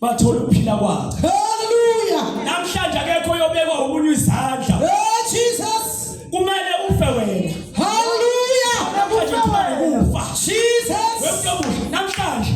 bathola ukuphila kwakhe haleluya namhlanje akekho yobekwa umunyu izandla hey jesus kumele ufe wena haleluya namhlanje kumele ufa jesus wemntobuhle namhlanje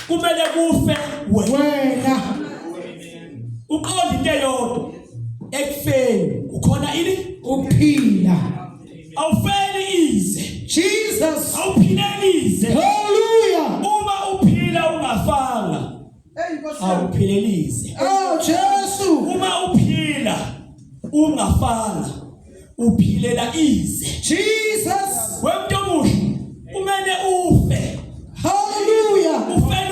kumele kufe wena uqonda into eyodwa ekufeni ukhona ini ukuphila awufeli ize Jesus awuphileli ize hallelujah uma uphila ungafanga awuphileli ize oh Jesu uma uphila ungafanga uphilela ize Jesus wemntu omusha kumele ufe hallelujah ufela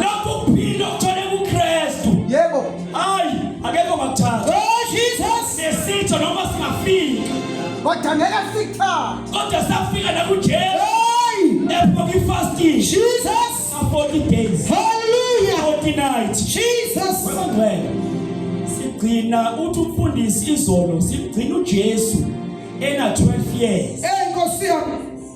Lokhu kuphila okuthola kuKristu. Yebo. Hayi, akekho ngakuthatha. Oh Jesus. Nesitho noma singafika. Kodwa ngeke sikuthatha. Kodwa safika la kuJesu. Hey! Lapho ngifasting. Jesus. For 40 days. Hallelujah. 40 nights. Jesus. Webangcwele. Sigcina uthi umfundisi izolo, sigcina uJesu ena 12 years. Hey Nkosi yami.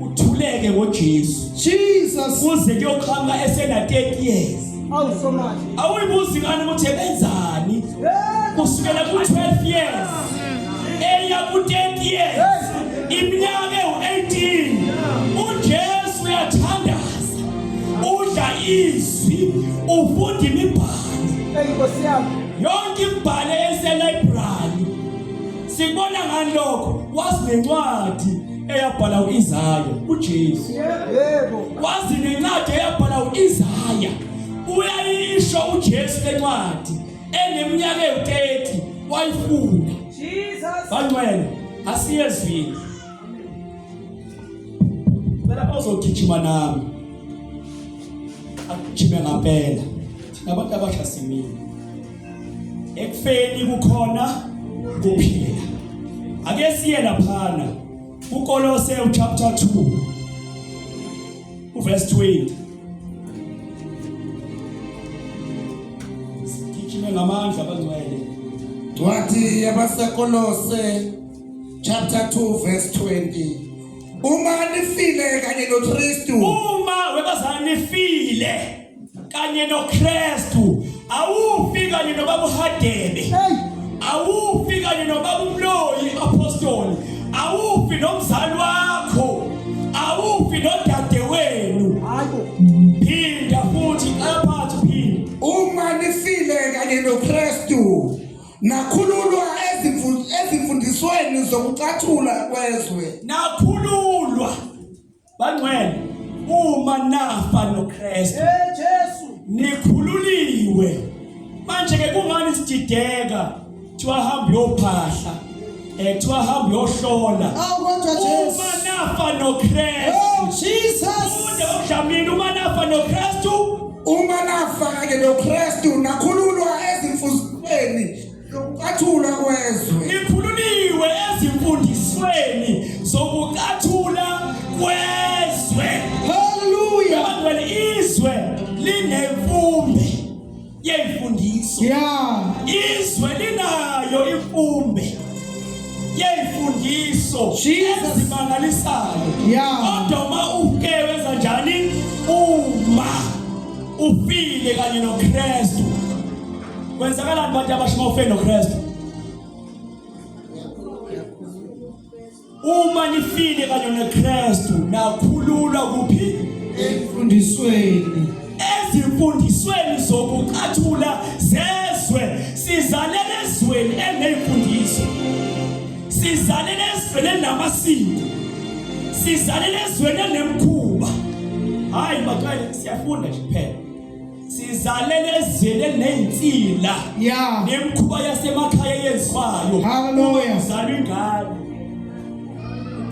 uthuleke ngoJesu Jesus kuze kuyoqhamuka esena 30 years awusomathi awuyibuzi ngani ukuthi ebenzani kusukela ku 12 years eya ku 10 years iminyaka ewu-18 ujesu uyathandaza udla izwi ufunda imibhalo yonke imibhalo eselibrary sikubona ngani lokho wazinencwadi eyabhala uIsaya uJesu yebo wazi nencwadi eyabhala uIsaya uyayisho uJesu lencwadi eneminyaka ewu30 wayifunda Jesus bangcwele asiyezwini Bela ozogijima nami akujime ngampela thina abantu abasha simile ekufeni kukhona kuphila ake siye laphana ukolose chapter 2 uverse 20 sigijime ngamandla abangcwele wathi yabasekolose chapter 2 verse 20 uma nifile kanye noKristu uma webazani nifile kanye noKristu awufi kanye nobaba uHadebe awufi kanye nobaba uMloyi apostoli awufi nomzali wakho awufi nodade wenu phinda futhi aphathe phinda uma nifile kanye noKristu nakhululwa ezimfundisweni zokucathula kwezwe nakhululwa Bangcwele uma nafa noKristu. Hey Jesu. Nikhululiwe. Manje ke kungani sidideka? Thiwa hamba yophahla. Eh thiwa hamba yohlola. Awu kodwa Jesu. Uma nafa noKristu. Oh Jesus. Ude uJamini uma nafa noKristu. Uma nafa ke noKristu nakhululwa ezimfuzweni Lokucathula kwezwe. Nikhululiwe ezimfundisweni zokucathula kwezwe. Hallelujah. Abantu izwe linemfumbi yeyifundiswa. Yeah. Izwe linayo imfumbi yeyifundiswa ezimangalisayo. Yeah. Kodwa uma uke wenza njani? Uma ufile kanye noKristu kwenzakalani bantu abasha uma ufe nokristu uma nifile kanye nokristu nakhululwa kuphi emfundisweni ezimfundisweni zokucathula zezwe sizalele ezweni eneyimfundiso sizalele ezweni elinamasiko sizalele ezweni enemkhuba hayi batwaye siyafunda nje kuphela sizalele ezweni elinezinsila yeah nemkhuba yasemakhaya yenziwayo haleluya uzalwa ingane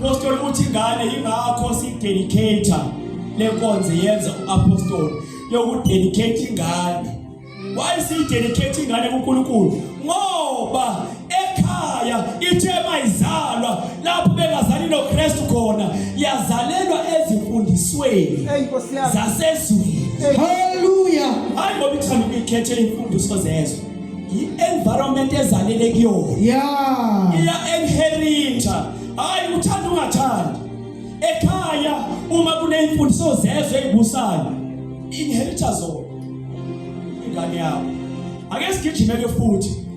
apostoli uthi ingane ingakho sidedicator lenkonzo yenza uapostoli yokudedicate ingane why sidedicate ingane kuNkulunkulu ngoba ekhaya ithe mayizalwa lapho bengazali noKristu khona yazalelwa ezimfundisweni zasezweni haleluya hayi ngoba ithanda ukuyikhetha imfundiso zezwe i-environment ezalele kuyona yeah iya inherita hayi uthanda ungathandi ekhaya uma kuneyimfundiso zezwe ezibusayo inherita zona ingane yakho ake sigijime ke futhi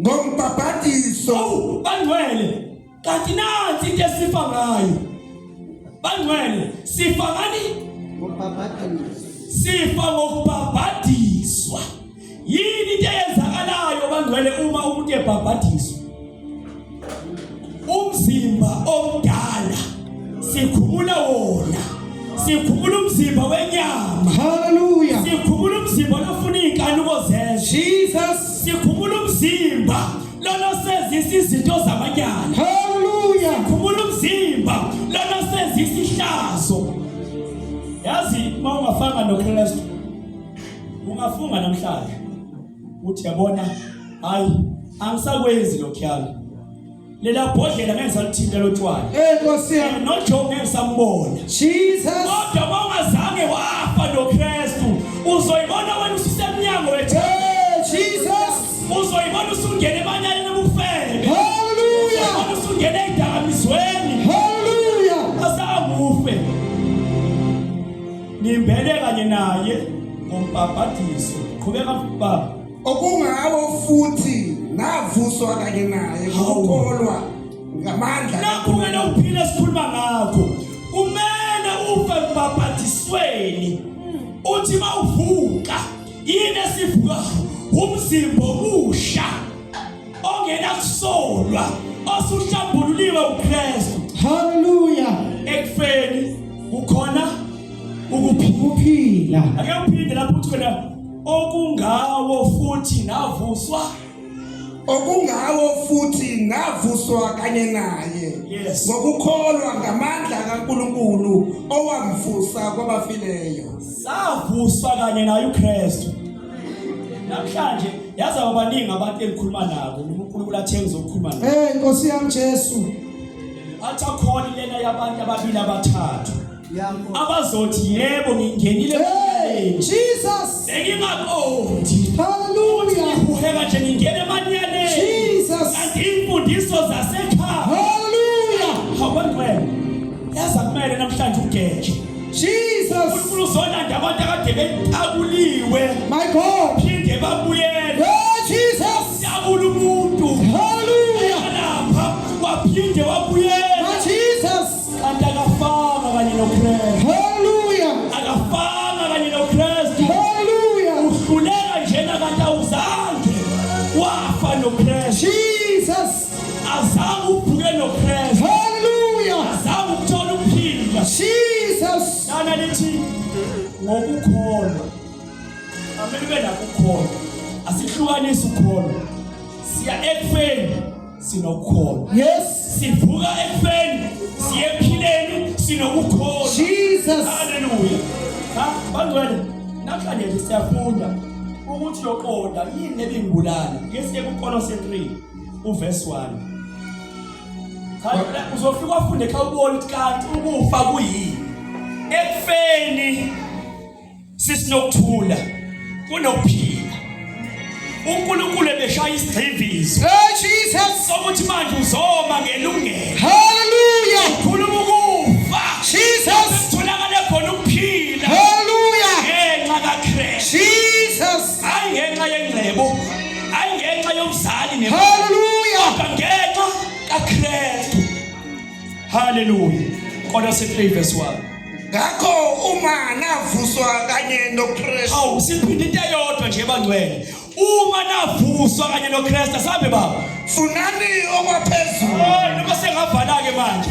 ngombhabhadiso awu bangcwele kanti nathi into esifa ngayo bangcwele sifa ngani ngombhabhadiso sifa ngokubhabhadiswa yini into eyenzakalayo bangcwele uma umuntu ebhabhadiswa umzimba omdala sikhumula wona sikhumula umzimba wenyama haleluya sikhumula umzimba lofuna izinkanuko zezwe jesus sikhumula umzimba lona sezisa izinto zamanyana haleluya sikhumula umzimba lona sezisa ihlazo yazi uma ungafanga nokristu ungafunga namhlanje uthi yabona hayi angisakwenzi lokhuyami lela bhodlela ngeke salithinta lotshwala eh nkosi yami no Job ngeke sambona Jesus kodwa mawungazange wafa no Kristu uzoyibona wena usisemnyango wethu eh, Jesus uzoyibona usungena emanyaleni obufebe haleluya usungena edakamizweni Ngimbele kanye naye ngombhabhadiso. Qhubeka baba. Okungawo futhi navuswa kanye naye ngokholwa ngamandla. Nakho-ke nawuphila esikhuluma ngakho. Kumele ufe mbhabhadisweni. Uthi mawuvuka yini esivukayo umzimba omusha. ongena kusolwa osuhlambululiwe uKristu haleluya ekufeni kukhona ukuphila ake uphinde lapho uthi wena okungawo futhi ngavuswa okungawo futhi ngavuswa kanye naye yes. ngokukholwa ngamandla kaNkuluNkulu owamvusa kwabafileyo savuswa kanye naye uKristu namhlanje yazi abaningi abantu engikhuluma nabo uNkulunkulu athe ngizokhuluma nabo eh inkosi yami Jesu athi akhona lena yabantu ababili abathathu abazothi yebo ngingenile Jesus engingaqondi hallelujah uheka nje ngingena emanyaneni Jesus kanti imfundiso zasekhaya hallelujah hawu ngeke yazi akumele namhlanje ugeje Jesus. uNkulunkulu uzolanda abantu akade bentakuliwe My God. phinde babuyele Oh, Jesus. tabula umuntu Hallelujah. alapha waphinde wabuyela My Jesus. kanti akafanga kanye nokristu Hallelujah. akafanga kanye nokristu Hallelujah. uhluleka njena kanti awuzange wafa nokristu azange uvuke noKristu haleluya azange ukuthola ukuphila Jesus lana lithi ngokukholwa amele ube nakukholwa asihlukanisi ukholwa siya ekufeni sinokukholwa yes sivuka ekufeni siye ephileni sinokukholwa Jesus haleluya ha bangcwele namhlanje siyafunda ukuthi yoqonda yini lebingibulala ngesiye kuKolose 3 uverse 1 kanti uzofika ufunde xa ubona ukuthi kanti ukufa kuyini ekufeni sisinokuthula kunokuphila uNkulunkulu ebeshaya isigxivizo hey Jesus sokuthi manje uzoma ngelungelo haleluya khuluma ukufa Jesus sitholakale khona ukuphila haleluya ngenxa kaKristu Jesus hayi ngenxa yengcebo hayi ngenxa yomzali ne haleluya ngenxa kaKristu haleluya kodwa se 3 verse 1 ngakho uma navuswa kanye noKristu hawu siphinde into eyodwa nje bangcwele uma navuswa kanye noKristu asambe baba funani okwaphezulu oh noma sengavala ke manje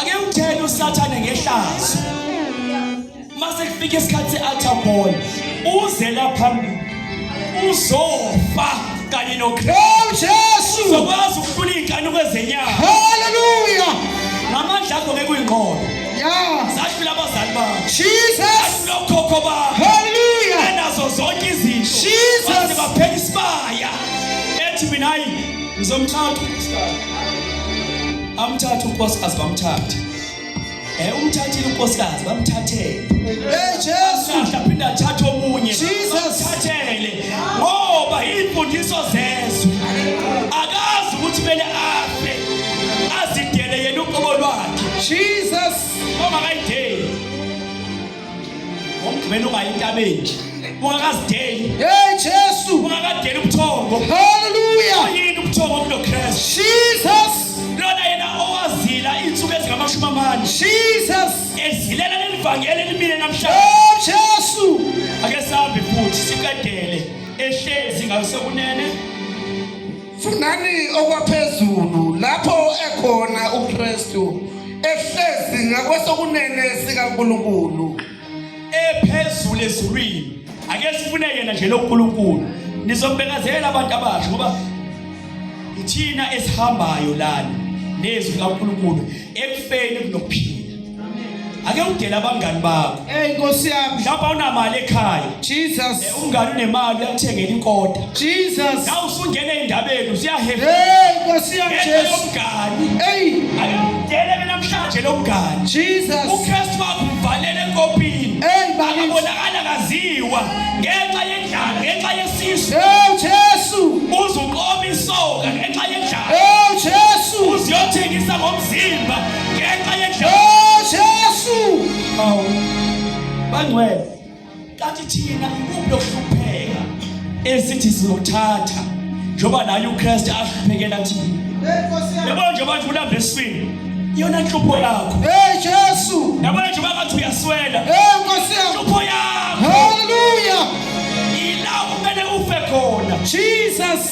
ake uthele usathane ngehlazo mase kufika isikhathi se-altar call uze la phambili uzofa kanye nokristu jesu uzokwazi ukufuna iy'nkanuko ezenyama haleluya ngamandla akho ngeke uyinqobe ya zahlula abazali bakho jesus zahlula okhokho bakho haleluya enazo zonke izinto Jesus. Baze baphela isibaya ethi mina hayi ngizomthatha unkosikazi Amthathe unkosikazi bamthathe. Eh umthathile unkosikazi bamthathele. Hey Jesu. Aphinde athathe omunye. Jesus. Thathele. Ngoba imfundiso zezwe. Akazi ukuthi kumele afe. Azidele yena uqobo lwakhe. Jesus. Mama kayidele. ngomgqibelo ungayi entabeni ungakazideli hey jesu ungakadeli ubuthongo haleluya yini ubuthongo kulo kristu jesus lona yena owazila izinsuku ezingamashumi amane jesus ezilela lelivangeli elimile namhlanje oh jesu ake sihambe futhi siqedele ehlezi ngayo sekunene Funani okwaphezulu lapho ekhona uKristu ehlezi ngakwesokunene sikaNkulunkulu ephezulu ezulwini ake sifune yena nje loNkulunkulu nizombekazela abantu abasha ngoba ithina esihambayo lana nezwi likaNkulunkulu ekufeni kunokuphila ake udele abangani bakho hey nkosi yami mhlawumbe awunamali ekhaya jesus eh, umngani unemali uyakuthengela inkoda jesus na usungena endabeni usiyahefa hey nkosi yami jesus umngani hey ake udele mina mhlanje lo mngani jesus ukristu wakho uvalele enkopini hey bakabonakala kaziwa ngenxa yendlala ngenxa yesisu hey jesu uzuqoma isoka ngenxa yendlala hey jesu uziyothengisa ngomzimba ngenxa yejesu awu bangcwele kanti thina ikuphi lokuhlupheka esithi sizothatha njengoba naye ukristu ahluphekela thina yabo nje abantu ulamba eswini iyona nhlupho yakho hey jesu yabo nje bangathi uyaswela hey nkosi yami nhlupho yakho haleluya ilawo kumele ufe khona jesus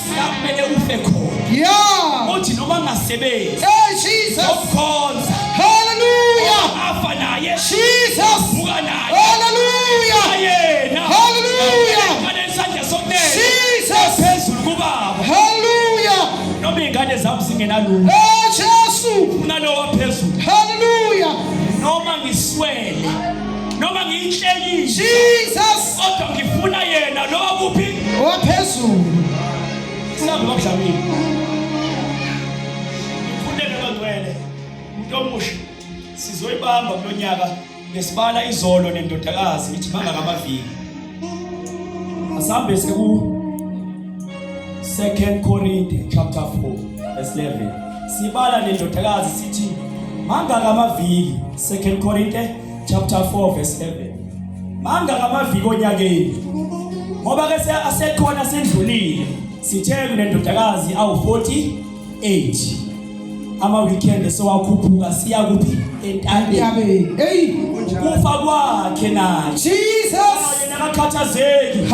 Siyakumele ufe khona. Yeah. Uthi noma ngasebenzi. Hey Jesus. Ukukhonza. Hallelujah. Afa naye. Jesus. Vuka naye. Hallelujah. Ayena. Hallelujah. Ngale isandla sokunene. Jesus. Phezulu kubaba. Hallelujah. Noma ingane zami singenalutho. Hey Jesus. Unalowa phezulu. Hallelujah. Noma ngiswele. noma ngiyinhlekise Jesus kodwa ngifuna yena lo kuphi owaphezulu singabe bakudlamile ngifundele bangcwele umuntu omusha sizoyibamba kulonyaka ngesibala izolo nendodakazi ngithi mangaka amaviki asambe siku 2 Korinte chapter 4 verse 11 sibala nendodakazi sithi mangaka amaviki 2 Korinte chapter 4 verse 11 manga ngamaviki onyakeni ngoba ke asekhona sendlulile sithe kunendodakazi awu 48 ama weekend sewakhuphuka siya kuphi entabeni hey kufa kwakhe naye Jesus yena akakhathazeki